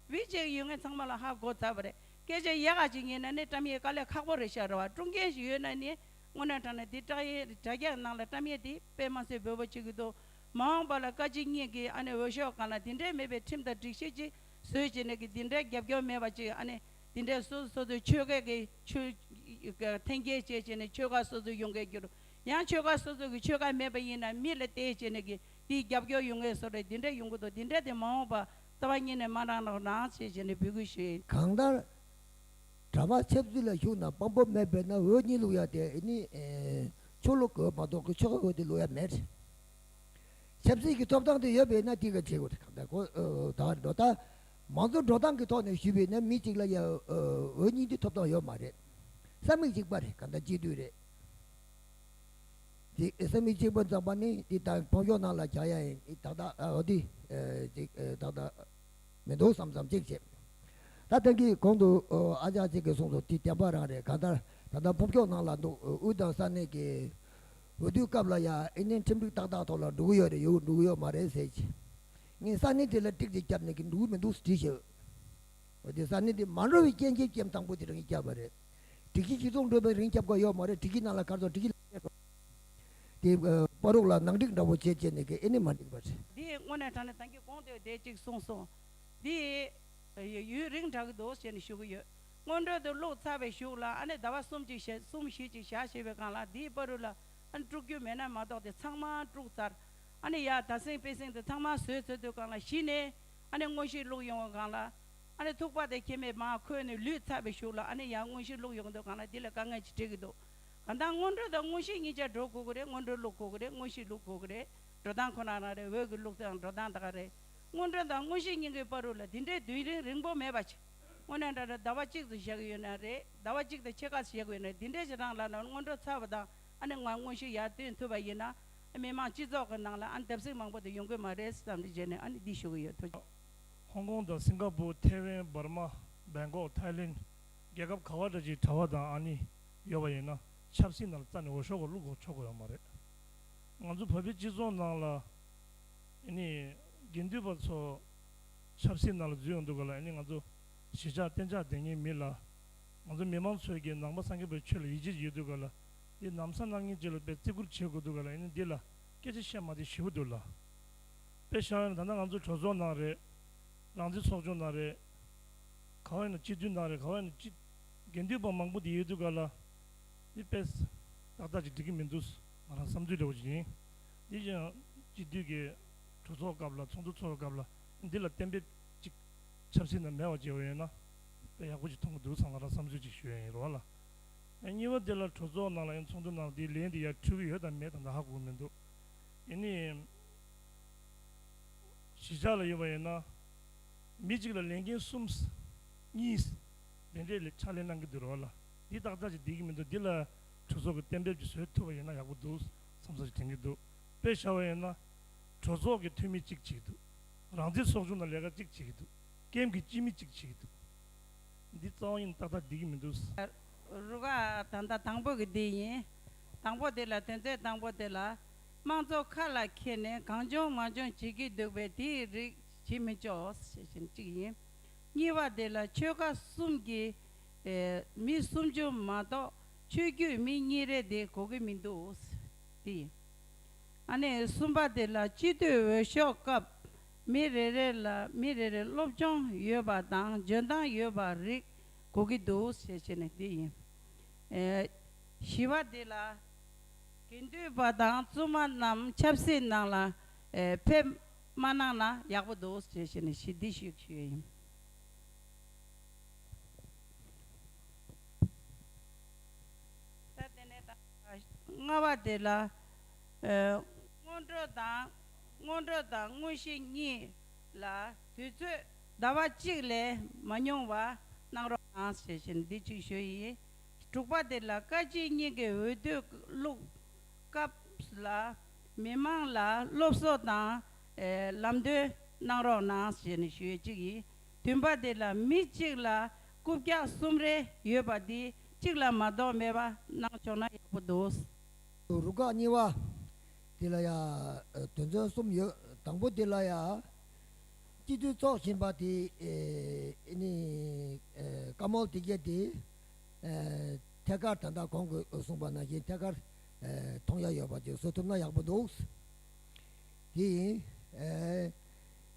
བྷི་ཅེག་ཡུལ་ངན་ཚང་མ་ལ་ཧ་གོ་ཚར་བ་རེད་སྐད་ཆ་ཡག་ག་ཅིག་ཡིན་ན་ནི་བཀྲམ་ཡས་དཀའ་ལས་ཁག་པོ་རེད་ཤག་རེ་བ་སྤྲོ་མཁན་ཞིག་ཡོད་ན་ནི་སྔོན་ན་དྲང་ན་དེ་དྲ་ཡས་དྲ་རྒྱ་ནང་ལ་བཀྲམ་ཡས་དེ་པད་མ་མཚོས་འབོད་པོ་བྱེད་གི་འདུག། མ་འོངས་པ་ལ་བཀའ་སྤྱི་གཉིས་ཀྱི་ཨ་ནི་འོས་ཤོག་གང་ལ་དེ་འདྲས་མེད་པའི་ཁྲིམས་དང་སྒྲིག་གཞི་ཅིག་བཟོས་བྱས་ནས་ཀྱི་དེ་འདྲས་རྒྱབ་སྐྱོར་མེད་པ་ཅིག་ཨ་ནི་དེ་འདྲས་སོ་སོ་སོ་སོའི་ཆོལ་ཁས་ཀྱི་ཆུ་འཐེན་རྐྱལ་བྱས་བྱས་ནས་ཆོལ་ཁ་སོ་སོ་ཡོང་མཁན་གྱུར་ཡང་ཆོལ་ཁ་སོ་སོ་ཀྱི་ཆོལ་ཁ་མེད་པ་ཡིན་ན་མི་ལ་བལྟས་བྱས་ནས་ཀྱི་དེའི་རྒྱབ་སྐྱོར་ཡོང་མཁན་སོ་སོ་དེ་འདྲས་ཡོང་གི་འདུག་དེ་འདྲས་དེ་མ་འོངས་པ་རྩ་བ་ཉིད་ནས་མ་རང་ལོག་ནང་བྱས་བྱས་ནས་འབུལ་དགོས་ཞེས། གང་ལྟར། གྲྭ་བ་ཆབ་སྲིད་ལ་ཞུགས་ན་དཔང་པོ་མེད་པས་ན་འོས་གཉིས་ལུགས་ཡག་དེ་ནི་ཆོས་ལུགས་ཀྱི་འོས་མ་གཏོགས་ཀྱི་ཆོལ་ཁའི་འོས་དེ་ལུགས་ཡག་མེད། ཆབ་སྲིད་ཀྱི་ཐོབ་ཐང་དེ་ཡོད་པས་ན་དེ་ག་བྱེད་དགོས་དེ་ག་བྱེད་དགོས་ད་ལྟ་མང་གཙོ་འགྲོ་སྟངས་ཀྱི་ཐོག་ནས་ཞུས་པས་ན་མི་གཅིག་ལ་ཡང་འོས་གཉིས་འདི་ཐོབ་ཐང་ཡོད་མ་རེད། ས་མིག་གཅིག་པ་རེད་ག་ད་གཅིག་སྡུད་རེད། ཅེས་ས་མིག་གཅིག་པ་འཛག་པ་ནི་འདི་ད་ཕོ་གཞོག་ནང་ལ་བྱ་ཡ་ཡིན་ད་ད་འོ་འདི་ཅེས་ད་ད། མི་འདུག་བསམ་བསམ་གཅིག་བྱེད། ད་ཐེངས་ཀྱི་གོང་དུ་ཨ་ཅག་ཅིག་གིས་གསུངས་སོ་དེ་བདེན་པ་རང་རེད་གང་ལྟར་ད་ལྟ་ཕུགས་ཕྱོགས་ནང་ལ་འདུག་དབུས་དང་ས་གནས་ཀྱི་འོས་བསྡུའི་སྐབས་ལ་ཡང་ཨི་ནི་ཁྲིམས་སྒྲིག་ཏག་ཏག་ཐོག་ལ་འགྲོ་གི་ཡོད་རེད་ཡོད་འགྲོ་གི་ཡོད་མ་རེད་ཟེར་གྱི། ངས་ས་གནས་དེ་ལ་ཏིག་ཅིག་བརྒྱབ་ནས་གི་འགྲོ་གི་མི་འདུག་ཟེར་གྱི་ཡོད། འོན་ཏེ་ས་གནས་དེ་མ་འགྲོ་བའི་རྐྱེན་གྱིས་རྐྱེན་དང་པོ་དེ་རང་གིས་བརྒྱབ་པ་རེད། སྒྲིག་གཞི་སྤྱི་ཚོགས་འགྲོ་བའི་རིང་བརྒྱབ་དགོས་ཡོད་མ་རེད་སྒྲིག་གཞི་ནང་ལ་གར་སོང་སྒྲིག་གཞི་ལ་ཞེན་སོང། དེས་པ་རུག་ལ་ནག་འགྲིག་འདྲ་བོ་བྱེད་ཅེས་ནི་ཀེ་ཨེ་ནི་མ་འགྲིག་པ་རེད། དེས་དངོས་གནས་དྲང་ནས་དེང་གི་གོང་དུ་བསྡད་ཅིག་གསུངས་སོང། དེས་ཡུན་རིང་དྲག་གི་འདུག་ཞེས་ནི་ཞུ་གི་ཡོད། སྔོན་འགྲོས་དེ་བླུགས་ཚར་བའི་ཞུགས་ལ་ཨ་ནི་ཟླ་བ་གསུམ་གཅིག་ཞེ་གསུམ་ཞིག་ཅིག་བཞག་ཞེས་པའི་སྒང་ལ་དེས་པ་རུག་ལ་ཨ་ནི་དཀྲུག་རྒྱུ་མེད་ན་མ་གཏོགས་དེ་ཚང་མ་དཀྲུགས་ཚར། ཨ་ནི་ཡར་ད་སེང་པེ་སེང་དེ་ཚང་མ་ཟོས་ཚར་དུས་སྒང་ལ་གཞི་ནས་ཨ་ནི་དངོས་གཞི་བླུགས་ཡོང་བའི་སྒང་ལ། ཨ་ནི་ཐུག་པ་དེ་ཁྱེད་མས་མ་ཁོས་ནི་ལུས་ཚར་བའི་ཞུགས་ལ་ཨ་ནི་ཡང་དངོས་གཞི་བླུགས་ཡོང་དུས་སྒང་ལ་དེ་ལ་དཀའ་ངལ་ཅིག་འཕྲད་གི་འདུག་གང་ལྟར་སྔོན་འགྲོ་དང་དངོས་གཞི་གཉིས་ཆ་འགྲོ་དགོས་ཀྱི་རེད་སྔོན་འགྲོའི་ལུགས་དགོས་ཀྱི་རེད་དངོས་གཞིའི་ལུགས་དགོས་ཀྱི་རེད། འགྲོ་སྟངས་ཁོ་ན་རང་རེད་འོད་ཀྱི་ལུགས་དང་འགྲོ་སྟངས་དག་རེད། སྔོན་འགྲོ་དང་དངོས་གཞི་གཉིས་ཀའི་བར་རུ་ལ་དེ་འདྲའི་བསྡུས་རིང་རིང་པོ་མེད་པ། དངོས་གནས་འདྲ་འདྲ་ཟླ་བ་གཅིག་ཏུ་བཞག་གི་ཡོད་ན་རེད་ཟླ་བ་གཅིག་དང་ཕྱེད་ཀ་བཞག་གི་ཡོད་ན་རེད་འདི་འདྲའི་བྱེད་སྟངས་ལ་ནང་སྔོན་འགྲོ་ཚར་བ་དང་ཨ་ནི་ང་དངོས་གཞི་ཡར་བསྟུན་ཐུབ་པ་ཡིན་ན་ཨ་མི་དམངས་སྤྱི་ཚོགས་ཀྱི་ནང་ལ་ཨ་ནི་བརྡབ་གསིག་མང་པོ་དེ་ཡོང་གི་མ་རེད་ཟེར་ཙམ་གྱི་རྗེས་ནས་ཨ་ནི་འདི་ཞུ་གི་ཡོད་ཐུགས་རྗེ། ཧོང་ཀོང་དང་སིང་ཀ་པུར་ཐེ་ཝན་འབར་མ་སྦེལ་ཀོག་ཐའི་ལེན་རྒྱལ་ཁབ་ག་བ་འདྲ་ཅིག་གྲྭ་བ་དང་ཨ་ནི་ཡོད་པ་ཡིན་ན་ཆབ་སྲིད་ནང་ལ་རྩ་ནས་འོས་ཤོག་གི་བླུག་དགོས་ཆོག་གི་ཡོད་མ་རེད། ང་ཚོ་བོད་པའི་སྤྱི་ཚོགས་ནང་ལ་ཨེ་ནི་དགེ་འདུན་པ་ཚོ་ཆབ་སྲིད་ནང་ལ་འཛུལ་ཡོང་འདུག་ག་ལ་ཨེ་ནི་ང་ཚོ་གཞིས་ཆགས་གཏན་ཆགས་དེ་ཉིད་མིན་ལ། ང་ཚོ་མི་མང་ཚོས་ཀྱི་ནང་པ་སངས་རྒྱས་པའི་ཆོས་ལ་ཡིད་ཆེས་ཡོད་འདུག་ག་ལ་འདི་ནམ་ས་ནམ་གཉིས་ཅིག་ལ་དཔེ་བརྩི་བཀུར་བྱེད་དགོས་འདུག་ག་ལ་ཨེ་ནི་འདི་ལ་སྐད་ཆ་བཤད་མ་དེ་ཞི་བོ་འདུག་ལ། དཔེ་བཞག་ཡོད་ན་ད་ལྟ་ང་ཚོ་གྲོས་ཚོགས་ནང་རེད། རང་བཙན་ཚོགས་ཆུང་ནང་རེད། ག་བ་ཡིན་ན་སྤྱི་འཐུས་ནང་རེད་ག་བ་ཡིན་ན་སྤྱི། དགེ་འདུན་པ་མང་པོ་འདི་ཡོད་དུས་ག་ལ་འདི་དཔེས་ཏག་ཏག་ཅིག་འགྲིག་གི་མི་འདུག་ང་རང་བསམ་ཚུལ་ལེའུ་ཅིག་ཡིན། དེ་བཞིན་དཔྱིད་དུས་ཀྱི་གྲོས་ཚོགས་སྐབས་ལ་ཚོགས་འདུ་འཚོགས་པའི་སྐབས་ལ་འདི་ལ་གཏན་འབེབས་ཅིག་ཆབ་སྲིད་ནང་མེད་བ་ཅིག་ཡོད་ན་དཔེ་ཡག་པོ་ཅིག་མཐོང་གི་འདུག་བསམ་ང་རང་བསམ་ཚུལ་ཅིག་ཞུ་ཡ་ཡིན་རོགས་ལ། གཉིས་པ་འདི་ལ་གྲོས་ཚོགས་ནང་ལ་ཡང་ཚོགས་འདུ་ནང་ལ་འདིའི་ལས་འདི་ཡར་འཕྲོས་གི་ཡོད་དམ་མེད་དམ་ད་ཧ་གོ་གི་མི་འདུག་ཡིན་ནའི་གཞིས་ཆགས་ལ་ཡོད་པ་ཡིན་ན་མི་གཅིག་ལ་ལས་འགན་གསུམ་གཉིས། དེ་འདྲའི་ལས་ཕྱག་ལས་གནང་གི་འདུག་རོགས་ལ་འདི་བདག་ཅག་ཅིག་བསྡད་ཀྱི་མི་འདུག་འདི་ལ་གྲོས་ཚོགས་ཀྱི་གཏན་འབེབས་ཀྱི་བཟོས་ཐུབ་པ་ཡིན་ན་ཡག་པོ་འདུག་བསམ་ས་ཞིག་དྲན་གྱི་འདུག་དཔེ་བཞག་པ་ཡིན་ན། གྲོས་ཚོགས་ཀྱི་འཐུས་མི་གཅིག་བྱེད་ཀྱི་འདུག་རང་བཙན་ཚོགས་ཆུང་ནང་ལས་ཀ་གཅིག་བྱེད་ཀྱི་འདུག་ཀེམ་གྱི་སྤྱི་མི་གཅིག་བྱེད་ཀྱི་འདུག་འདི་རྩ་བ་ཡིན་ཏག་ཏག་བསྡད་ཀྱི་མི་འདུག། རུ་ཁག་ད་ལྟ་དང་པོ་གི་དེ་ཡིན། དང་པོ་དེ་ལ་དོན་ཚན་དང་པོ་དེ་ལ། དམངས་གཙོ་ཁ་ལ་འཁྱེར་ནས་གང་བྱུང་མ་བྱུང་བྱེད་ཀྱི་འདུག་པས་དེའི་རིགས་བྱེད་མི་ཆོག་ཞེས་བཞིན་གཅིག་ཡིན། གཉིས་པ་དེ་ལ་ཆོལ་ཁ་གསུམ་གྱི་མི་སུམ་ཅུ་མ་གཏོགས་ཆོས་རྒྱུད་མི་གཉིས་རེ་དེ་གོ་གི་མི་འདུག་དེ། ཨ་ནས་གསུམ་པ་དེ་ལ་སྤྱི་མཐུས་འོས་ཤོག་སྐབས་མི་རེ་རེ་ལ་མི་རེ་རེ་སློབ་སྦྱོང་ཡོད་པ་དང་འཇོན་ཐང་ཡོད་པ་རིགས་གོ་གི་འདུག་ཞེས་བྱས་ནས་དེ་ཡིན། བཞི་བ་དེ་ལ་དགེ་འདུན་པ་དང་བཙུན་མ་རྣམས་ཆབ་སྲིད་ནང་ལ་ཕེབས་མ་གནང་ན་ཡག་པོ་འདུག་ཅེས་བཤད་ནས་ཞི་བདེ་ཞུས་ཞུས་ཡོད་ཡིན། ད་དེ་ནས་ད་ལྔ་བ་དེ་ལ་སྔོན་འགྲོ་དང་སྔོན་འགྲོ་དང་དངོས་གཞི་གཉིས་ལ་དུས་ཚོད་ཟླ་བ་གཅིག་ལས་མ་ཉུང་བ་གནང་རོགས་གནང་ཞེས་བཞིན་འདི་གཅིག་ཞུས་ཡིན། དྲུག་པ་དེ་ལ་བཀའ་སྤྱི་གཉིས་ཀྱི་འོས་བསྡུ་བླུགས་སྐབས་ལ་མི་དམངས་ལ་སློབ་གསོ་དང། ལམ་སྟོན་གནང་རོགས་གནང་ཞེས་ནས་ཞུ་ཡས་གཅིག་ཡིན། དུས་འབའ་དེ་ལ་མི་གཅིག་ལ་རྐུབ་བཀྱག་གསུམ་རེ་ཡོད་པ་དེ་གཅིག་ལ་མ་གཏོགས་མེད་པ་གནང་ཆོག་ན་ཡག་པོ་འདུག། རུ་ཁག་གཉིས་བ། དེ་ལ་ཡང་དོན་ཚན་གསུམ་ཡོད། དང་པོ་དེ་ལ་ཡང། སྤྱི་འཐུས་ཚོགས་ཆེན་པ་དེ་ནི་བཀའ་མོལ་དེ་བརྒྱད་དེ། ཐད་ཀར་ད་ལྟ་གོང་གི་གསུངས་པ་ནང་བཞིན་ཐད་ཀར། མཐོང་རྒྱ་ཡོད་པ་དེ་བཟོ་ཐུབ་ན་ཡག་པོ་འདུག། དེ་ཡིན།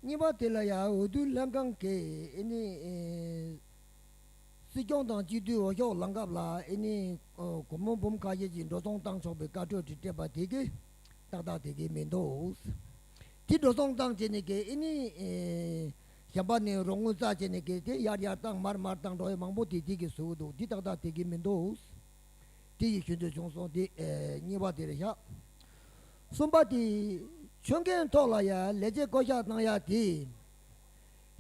གཉིས་པ་དེ་ལ་ཡང་འོས་བསྡུ་ལྷན་ཁང་གིས་ཨེ་ནི། སྲིད་སྐྱོང་དང་སྤྱི་འཐུས་འོས་ཤོག་ལངས་སྐབས་ལ་ཨེ་ནི། གོ་མོ་འབུམ་ཁ་ཤས་ཀྱིས་འགྲོ་སོང་བཏང་ཆོག་པའི་བཀའ་འཁྲོལ་དེ་སྤྲད་པ་དེ་གས་ཏག་ཏག་དེ་གས་མིན་འདུག། དེ་འགྲོ་སོང་བཏང་བྱས་ནས་གས་ཨེ་ནི། གཞན་པ་ནི་རོགས་དངུལ་རྩ་བྱས་ནས་གས་དེ་ཡར་ཡར་བཏང་མར་མར་བཏང་འགྲོ་ཡས་མང་པོ་དེ་དེ་གས་བཟོས་འདུག་དེ་ཏག་ཏག་དེ་གས་མིན་འདུག། དེ་ཡི་ཆོས་འདོད་བྱུང་སོང་སྟེ་གཉིས་པ་དེར་བཞག། གསུམ་པ་དེ་ཆོས་མཁན་ཐོག་ལ་ཡང་ལས་བྱེད་བསྐོ་གཞག་གནང་ཡ་དེ།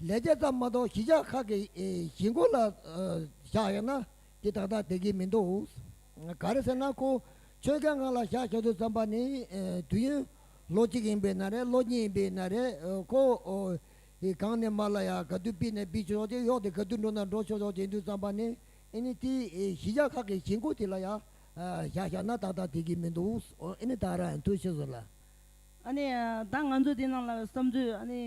ལས་བྱེད་ཙམ་མ་གཏོགས་གཞིས་ཆགས་ཁག་གི་གཞིས་མགོ་ལ་བཞག་ཡ་ན་དེ་ད་ལྟ་དེ་གི་མི་འདུག་ག་རེ་ཟེར་ན་ཁོ་ཆོས་མཁན་ང་ལ་བཞག་ཆོག་དུས་བརྩམས་པ་ནི་དུས་ཡུན་ལོ་གཅིག་ཡིན་པའི་ན་རེ་ལོ་གཉིས་ཡིན་པའི་ན་རེ་ཁོ་གང་ནས་མར་ལ་ཡང་ག་དུས་སྤིས་ནས་སྤིས་ཆོག་ཅིག་གཡོག་དེ་ག་དུས་འགྲོ་ན་འགྲོ་ཆོག་ཆོག་ཅིག་དུས་བརྩམས་པ་ནི་ཨེ་ནི་དེ་གཞི་བཞག་ཁག་གི་བྱེད་སྒོ་དེ་ལ་ཡང་བཞག་བཞག་ན་ཏག་ཏག་དེ་གི་མི་འདུག་ཨེ་ནི་ད་རན་ཐུ་ཤི་ཟུར་ལ། ཨ་ནི་ད་ང་ཚོས་དེ་ནང་ལ་བསམ་ཚུལ་ཨ་ནི།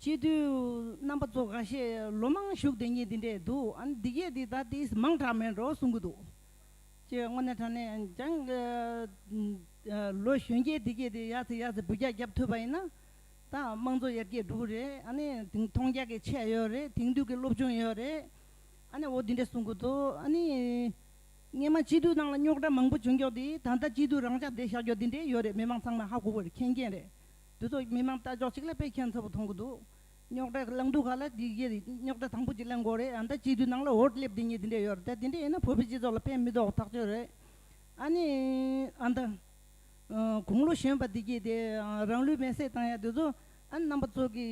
སྤྱི་མཐུས་རྣམ་པ་ཚོ་ག་ཤེད་ལོ་མང་བཞུགས་དེ་ཉིད་དེ་འདྲས་འདུག་ཨ་ནི་འདི་གས་དེ་ད་དེ་མང་དྲག་མེད་འགྲོ་གསུང་གི་འདུག་ཅེས་དངོས་གནས་དྲང་ནས་ཀྱང། ལོ་གཞོན་སྐྱེས་དེ་གས་དེ་ཡ་ཚེ་ཡ་ཚེ་བུ་རྒྱག་རྒྱབ་ཐུབ་པ་ཡིན་ན་དང་དམངས་གཙོ་ཡར་རྒྱས་འགྲོ་གི་རེད་ཨ་ནི་དེང་མཐོང་རྒྱ་གི་ཆས་ཡོད་རེད་དེང་དུས་ཀྱི་སློབ་སྦྱོང་ཡོད་རེད་ཨ་ནི་འོ་དེ་འདྲ་གསུང་གི་འདུག་ཨ་ནི། སྔན་མ་སྤྱི་འཐུས་ནང་ལ་རྙོག་དྲ་མང་པོ་བྱུང་རྒྱོག་དེ་ད་ལྟ་སྤྱི་འཐུས་རང་ཅག་བསྡད་བཞག་རྒྱོག་དེ་འདྲས་ཡོད་རེད་མི་མང་ཚང་མ་ཧ་གོ་གི་རེད་མཁྱེན་མཁྱེན་རེད་དེ་ཚོ་མི་མང་ལྟ་ཅོག་ཅིག་ལ་དཔེ་མཁྱེན་ཚ་བོ་མཐོང་གི་འདུག་རྙོག་དྲ་གླེང་འདུག་ག་ལ་དེ་གཞི་རེད་རྙོག་དྲ་དང་པོ་གཅིག་གླེང་དགོས་རེད་ད་ལྟ་སྤྱི་འཐུས་ནང་ལ་འོར་སླེབས་དེ་ཉིད་དེ་འདྲས་ཡོད་རེད་ད་དེ་འདྲས་ཡིན་ན་བོད་པའི་སྤྱི་ཚོགས་ལ་ཕན་མི་ཐོག་ཐག་ཆོད་རེད་ཨ་ནི་ཨ་ན། དགུང་ལོ་གཞོན་པ་འདི་སྐྱེས་ཏེ་རང་ལུས་མེ་བསྲེགས་བཏང་ཡག་དེ་ཚོ་རྣམ་པ་ཚོ་གི་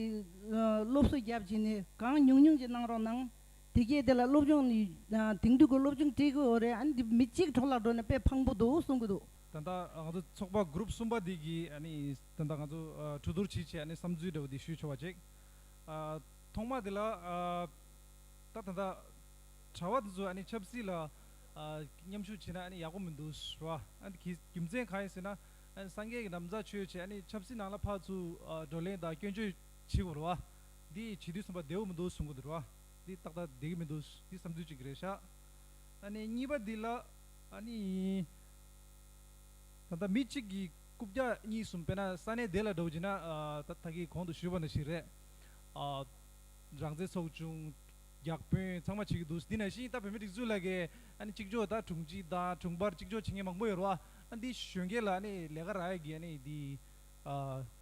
སློབ་གསོ་རྒྱབ་ཀྱིས་ནི་གང་ཉུང་ཉུང་ཅིག་གནང་རོགས་གནང། དེ་སྐྱེས་དེ་ལ་སློབ་སྦྱོང་དེང་དུས་ཀྱི་སློབ་སྦྱོང་སྤྲད་གི་འོ་རེད་ཨ་ནི་འདི་མི་གཅིག་གྲོགས་ལ་འགྲོ་ནས་དཔེ་ཕངས་པོ་འདུག་གསུང་གི་འདུག། ད་ལྟ་ང་ཚོ་ཚོགས་པ group གསུམ་པ་འདི་གིས་ཨ་ནི་ད་ལྟ་ང་ཚོ་གྲོས་བསྡུར་བྱེད་ཆེད་ཨ་ནི་བསམ་ཚུལ་འདྲ་བོ་འདི་ཞུས་ཆོག་པ་ཅིག་ཐོག་མ་དེ་ལ་ད་ད་ལྟ་གྲྭ་བ་དེ་ཚོ་ཨ་ནི་ཆབ་སྲིད་ལ་མཉམ་ཞུགས་བྱས་ན་ཡག་པོ་མི་འདུག་ཟེར་བ། རྒྱུ་མཚན་གང་ཡིན་ཟེར་ན། སངས་རྒྱས་ཀྱི་གདམས་ངག་ཆོས་ཆེད་ཆབ་སྲིད་ནང་ལ་ཕག་ཚུལ་བགྲོ་གླེང་དང་སྐྱོན་བརྗོད་བྱེད་དགོས་རེད་བ། འདི་བྱེད་དུས་གསུམ་པ་བདེ་བོ་མི་འདུག་གསུང་གི་འདུག་རེད་བ། འདི་ཏག་ཏག་བདེ་གི་མི་འདུག་འདི་བསམ་ཚུལ་གཅིག་རེད་ཤག། གཉིས་པ་འདི་ལ། ད་ལྟ་མི་གཅིག་གིས་རྐུབ་བཀྱག་གཉིས་གསུམ་སྤེལ་ན་ས་གནས་དེ་ལ་འགྲོ་གི་ན་ད་ཐག་གིས་གོང་དུ་ཞུས་པ་འདྲ་ཞིག་རེད། རང་བཙན་ཚོགས་ཆུང། རྒྱག་དཔོན་ཚང་མ་བྱེད་ཀྱི་འདུག་འདི་ནས་ཤིང་རྟ་བོད་མིའི་སྒྲིག་འཛུགས་ལ་གི་ཨ་ནི་གཅིག་ལྕོགས་དང་དྲུང་ཆེ་དང་དྲུང་འཕར་གཅིག་ལྕོགས་བྱེད་མཁན་མང་པོ་ཡོད་རེད་བ། ཨ་འདི་གཞོན་སྐྱེས་ལ་ཨ་ནི་ལས་ཀ་རག་ཡོད་གི་ཨ་ནི་འདི་ཨ་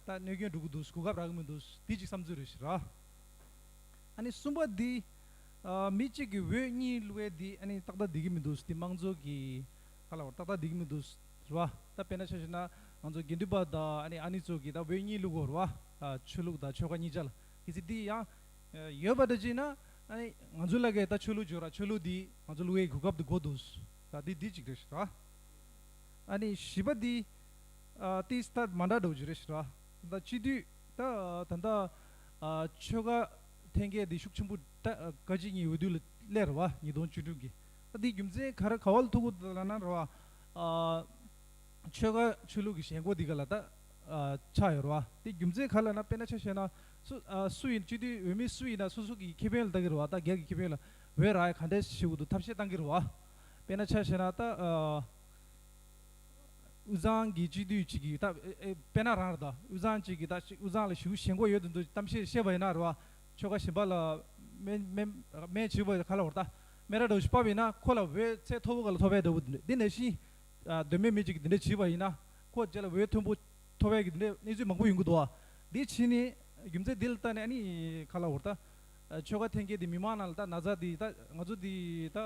ད་གནོད་སྐྱོན་འགྲོ་གི་འདུག་གོ་སྐབས་རག་གི་མི་འདུག་འདི་གཅིག་བསམ་ཚུལ་རེད་ར། ཨ་ནི་གསུམ་པ་འདི་ཨ་མི་གཅིག་གི་འོས་གཉིས་བླུ་བའི་འདི་ཨ་ནི་ཏག་ཏག་བསྡད་ཀྱི་མི་འདུག་འདི་དམངས་གཙོ་གི་ཁ་ལ་བ་ར་ཏག་ཏག་བསྡད་ཀྱི་མི་འདུག་རེད་བ། ད་དཔེ་ན་ཆ་ཤེ་ན་ང་ཚོ་དགེ་འདུན་པ་དང་ཨ་ནི་ཨ་ནི་ཚོ་གི་ད་འོས་གཉིས་བླུ་གོ་རེད་བ། ཆོས་ལུགས་དང་ཆོལ་ཁ་གཉིས་ཆ་ལ་གི་ཚིག་འདི་ཡང། ཡོད་པ་དེ་གཅིག་ན། ང་ཚོའི་བླ་སྐད་ད་ཆོས་ལུགས་བརྗོད་ར་ཆོས་ལུགས་འདི་ང་ཚོ་གླུ་བའི་གོ་སྐབས་དུ་གོ་འདུག། ད་འདི་འདི་གཅིག་རེད་ཤི་ར། ཨ་ནི་བཞི་པ་འདི། ཏི་སི་ཐར་མ་འདྲ་འགྲོ་རྒྱུ་རེད་ཤི་ར། ད་སྤྱི་འཐུས་ད་ད་ལྟ། ཆོལ་ཁ་འཐེན་འཁྱེར་འདི་ཤུགས་ཆེན་པོ་ཏཀ་གཅིག་གཉིས་འོས་བསྡུ་ལ་སླེ་ར་བ་ཉིས་སྟོང་བཅུ་དྲུག་གི། ད་འདི་རྒྱུ་མཚན་ག་ར་ག་བ་ལ་ཐུག་གོ་ད་ལ་ན་ར་བ། ཆོལ་ཁ་ཆོས་ལུགས་ཀྱི་ཞེན་ཁོག་འདི་ག་ལ་ད་ཆགས་ཡོད་ར་བ། འདི་རྒྱུ་མཚན་ག་ལ་ན་དཔེ་ན་ཆ་བཤད་ན། སུ། སུ་ཡིན་སྤྱི་འཐུས་འོས་མི་སུ་ཡིན་ན་སུ་སུ་གི་ཁེ་ཕན་ལ་བལྟ་གི་རུ་བ་ད་སྒེར་གི་ཁེ་ཕན་ལ་འོས་ར་ག་འདྲས་ཞིག་བྱེད་དགོས་འདུག་ཐབས་ཤེས་གཏང་གི་རུ་བ། དཔེ་ན་ཆ་ཤེས་ན་ད། དབུས་གཙང་གི་སྤྱི་འཐུས་ཅིག་གིས་ད་དཔེ་ན་རང་རེད་ད་དབུས་གཙང་ཅིག་གིས་ད་དབུས་གཙང་ལ་ཞུགས་ཞེན་གོ་ཡོད་དུ་འདུག་གཏམ་ཤེས་བཤད་པ་ཡིན་ན་རུ་བ། ཆོལ་ཁ་གཞན་པ་ལ་སྨད་སྨད་སྨད་བྱེད་པ་ག་ལ་བོར་ད་སྨད་ར་འདྲ་བོ་ཞིག་སྤབས་ཡིན་ན་ཁོ་ལ་འོས་ཚད་མཐོ་པོ་ག་ལ་ཐོབ་པའི་འདྲ་བོ་འདུག་འདི་ནས་བཞིན། གདོད་མའི་མི་ཅིག་གིས་འདི་འདྲས་བྱས་པ་ཡིན་ན་ཁོ་རྗེས་ལ་འོས་མཐོན་པོ། ཐོ་བའི་གནས་ཚུལ་མང་པོ་ཡོང་གི་འདུག་བ། དེའི་ཕྱིས་ནས་རྒྱུ་མཚན་དེ་ལ་བལྟ་ནས་ཨ་ནི་ག་ལ་འོ་ད། ཆོལ་ཁ་འཐེན་མཁན་དེ་མི་མང་ནང་ལ་ད་ན་ཚ་དེ་ད་ང་ཚོ་དེ་ད།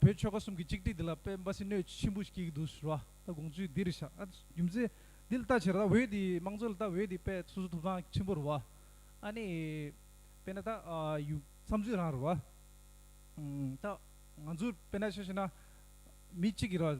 བོད་ཆོལ་ཁ་གསུམ་གྱི་གཅིག་སྒྲིག་དེ་ལ་དཔེ་འབའ་སྲིན་གནོད་ཆེན་པོ་ཞིག་སྐྱེལ་གྱི་འདུག་ཟེར་བ་ད་དགོངས་ཚུལ་འདི་རེད་ཤག་ཨ་རྒྱུ་མཚན་དེ་ལ་བལྟ་ཕྱིར་ད་འོད་དེ་མང་གཙོ་ལ་ད་འོད་དེ་དཔེ་སོ་སོ་ཐོབ་ཐང་ཆེན་པོ་རེད་བ། ཨ་ནི། དཔེ་ན་ད་ཡུ། བསམ་ཚུལ་རང་རེད་བ། ད་ང་ཚོ་དཔེ་ན་ཤེས་ཤེ་ན། མི་གཅིག་གི་ར།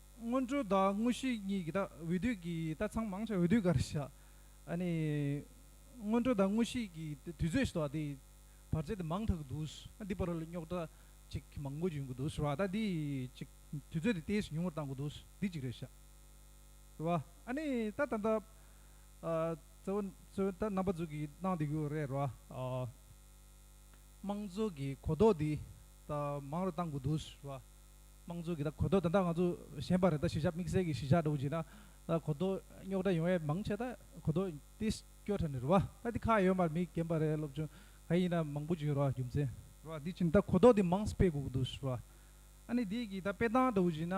སྔོན་འགྲོ་དང་དངོས་གཞི་གཉིས་ཀྱི་དག་འོས་དུས་ཀྱི་དག་ཚང་མང་ཆེ་བ་འོས་དུས་འགར་བཞག། ནི། སྔོན་འགྲོ་དང་དངོས་གཞི་གྱི་དུས་ཚོད་ཞེས་པ་དེ་བར་ཆད་དེ་མང་དག་འདུག་འདི་བར་ལ་རྙོག་དྲ་ཅིག་མང་པོ་བྱུང་གི་འདུག་ཟེར་བ་ད་འདི་ཅིག་དུས་ཚོད་དེ་དེས་ཉུང་བར་བཏང་གི་འདུག་འདི་གཅིག་རེད་བཞག། ཟེར་བ། ནི། ད་ད་ལྟ། གཙོ་བོ་གཙོ་བོ་ད་རྣམ་པ་ཙུག་གིས་གནང་བསྡད་ཀྱི་རེད་རེད་བ། དམངས་གཙོ་གི་གོ་རྟོགས་འདི་ད་མང་རུ་བཏང་གི་འདུག་ཟེར་བ། དམངས་གཙོའི་གི་ད་གོ་ཐོས་ད་ལྟ་ང་ཚོ་གཞན་པ་རེ་ད་གཞིས་ཆགས་དམིགས་བསལ་གི་གཞིས་ཆགས་འགྲོ་གི་ད་གོ་ཐོས་རྙོག་དྲ་ཡོང་ཡས་མང་ཆེ་ད་གོ་ཐོས་ཏི་སྐྱོ་ཁྲ་ནི་རུ་བ་ད་ཏི་ཁ་ཡོད་མར་མི་རྒན་པ་རེ་སློབ་ཆུང་ག་ཡིན་ད་མང་པོ་ཅིག་རུ་བ་རྒྱུ་མཚན་རུ་བ་དེ་ཕྱིན་ད་གོ་ཐོས་དེ་མང་སྤེལ་དགོས་གི་འདུག་རུ་བ་ཨ་ནི་དེ་གི་ད་སྤེལ་སྟངས་འགྲོ་གི་ན་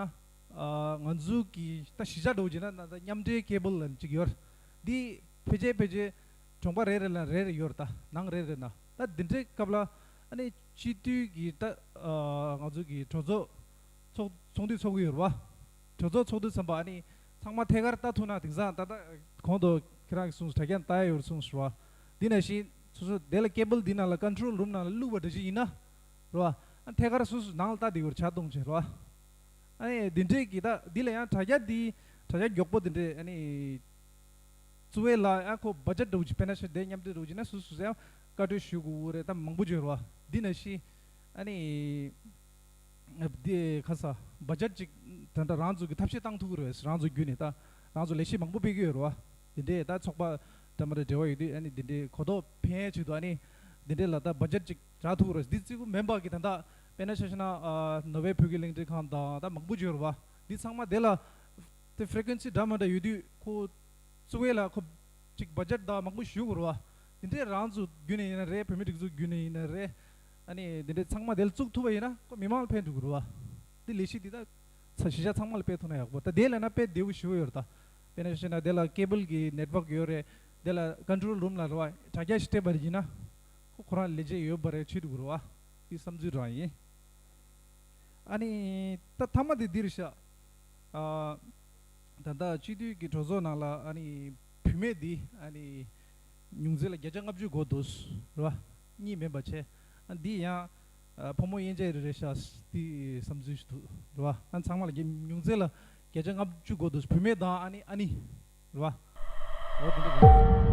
ང་ཚོའི་གི་ད་གཞིས་ཆགས་འགྲོ་གི་ན་ད་མཉམ་འབྲེལ་ཁེ་པོ་ལ་ཅིག་ཡོད་དེ་ཕལ་ཆེར་ཕལ་ཆེར་གྲོང་པ་རེ་རེ་ལ་རེ་རེ་ཡོད་ད་ནང་རེ་རེ་ན་ད་དེ་འདྲའི་སྐབས་ལ་ཨ་ནི་སྤྱི་འཐུས་ཀྱི་ང་ཚོ་གི་གྲོས་ཚོགས་ཚོགས་འདུ་ཚོགས་ཀྱི་ཡོད་རེད་བ། གྲོས་ཚོགས་ཚོགས་འདུ་ཚན་པ་ཨ་ནི་ཚང་མ་ཐད་ཀར་ལྟ་ཐུབ་ན་དེང་སང་ད་ལྟ་གོང་དུ་ཁྱེད་རང་གིས་གསུངས་སོ་དྲ་རྒྱ་ནས་ལྟ་ཡ་ཡོད་རེད་གསུངས་སོ་རེད་བ། དེ་ནས་བཞིན་སོ་སོ་དེ་ལ་སྐད་འབུལ་འདི་ནང་ལ Control Room ནང་ལ་བླུགས་པ་འདྲ་བྱེད་ཡིན་ན་རེད་བ། ཨ་ཐད་ཀར་སོ་སོ་ནང་ལ་ལྟ་དེ་གོ་རེ་བྱ་གཏོང་བྱེད་རེད་བ། ཨ་ནི་དེ་འདྲས་ཀྱི་ད་འདི་ལ་ཡང་དྲ་རྒྱ་འདི་དྲ་རྒྱ་མགྱོགས་པོ་དེ་འདྲས་ཨ་ནི། བཙུགས་བས་ལ་ཡང་ཁོ་སྦ་ཆ་འགྲོ་གི་བྱེད་པས་ན་ཤ་འདེད་མཉམ་འདེད་འགྲོ་གི་བྱེད་ན་སོ་སོ་ཡང་བཀའ་དྲིན་ཞུ་དགོས་འུ་རེ་ད་མང་པོ་བརྗོད་རོགས་འདི་ན་ཤི། ཨ་ནི། འདིའི་ཁ་ས་བ་ཇར་ཅིག་ད་ད་རང་ཚོ་གི་ཐབས་ཤེས་བཏང་ཐུག་གི་རེད་རང་ཚོ་རྒྱུད་ནས་ད་རང་ཚོ་ལས་བྱེད་མང་པོ་སྤེལ་གི་ཡོད་རོགས་འདི་འདྲའི་ད་ཚོགས་པ་ད་མ་རེ་འབྲེལ་བ་ཡོད་དུས་ཨ་ནི་འདི་འདྲའི་གོ་རྟོགས་ཕན་ཆེད་དུ་ཨ་ནི་འདི་འདྲའི་ལ་ད་བ་ཇར་ཅིག་རག་ཐུག་གི་རེད་འདི་ཙི་གུ་མན་པག་གི་ད་ད་དཔེ་ན་ཤ་ཤ་ན་ནོ་བྷེལ་བོད་ཀྱི་གླིང་ཕྲན་ཁང་དང་ད་མང་པོ་བརྗོད་རོགས་འདི་ཚང་མ་དེ་ལ་ཏེ Frequency འདྲ་མ་འདྲ་ཡོད་དུས་ཁོ་ཚོ་བས་ལ་ཁོ། གཅིག་བརྒྱ་ཆ་དག་མང་པོ་ཞུས་བར་བ། དེ་འདྲའི་རང་ཚུགས་བརྒྱུད་ནས་ཡིན་ན་རེད་བོད་མི་སྒྲིག་འཛུགས་བརྒྱུད་ནས་ཡིན་ན་རེད། ཨ་ནི་དེ་འདྲའི་ཚང་མ་དེ་ལ་བཙུགས་ཐུབ་པ་ཡིན་ན་ཁོ་མི་མང་ལ་ཕན་འགྲོ་དགོས་རུ་བ། དེ་ལས་གཞི་དེ་དག་ཚ་གཞི་ཆགས་ཚང་མ་ལ་སྤེལ་ཐུབ་ན་ཡག་པོ་ད་དེ་ལས་ན་སྤེལ་བདེ་བོ་ཞུ་བ་ཡོད་རེད་ད། དཔེར་ན་བཤད་ན་དེ་ལ Cable གི Network ཡོད་རེད། དེ་ལ Control Room ལ་རེད་བ་དྲ་རྒྱ་ཞིག་སྤྲད་པ་ཡིན་ན། ཁོ་ཁོ་རང་ལས་བྱེད་ཡོད་པ་རེད་ཆོད་དགོས་རུ་བ། དེ་བསམ་ཚུལ་རང་ཡིན། ཨ་ནི་ད་ཐ་མ་དེ་འདིར་བཞག། ད་ལྟ་སྤྱི་འཐུས་ཀྱི་གྲོས་ཚོགས་ནང་ལ་བུད་མེད་འདི་ཉུང་ཙི་ལ་བརྒྱ་ཆ་ལྔ་བཅུའི་སྒོ་འདུག་རེད་བ། གཉིས་མེད་པ་བྱས། འདི་ཡང་ཕོ་མོ་དབྱེ་འབྱེད་རེ་རེ་བྱས་འདི་བསམ་ཚུལ་ཞིག་འདུག་རེད་བ། ཚང་མ་ལ་ཉུང་ཙི་ལ་བརྒྱ་ཆ་ལྔ་བཅུའི་སྒོ་འདུག་བུད་མེད་དང་ཨ་ནེ་ཨ་ནི་རེད་བ། འོ་དེ་འདྲ་རེད།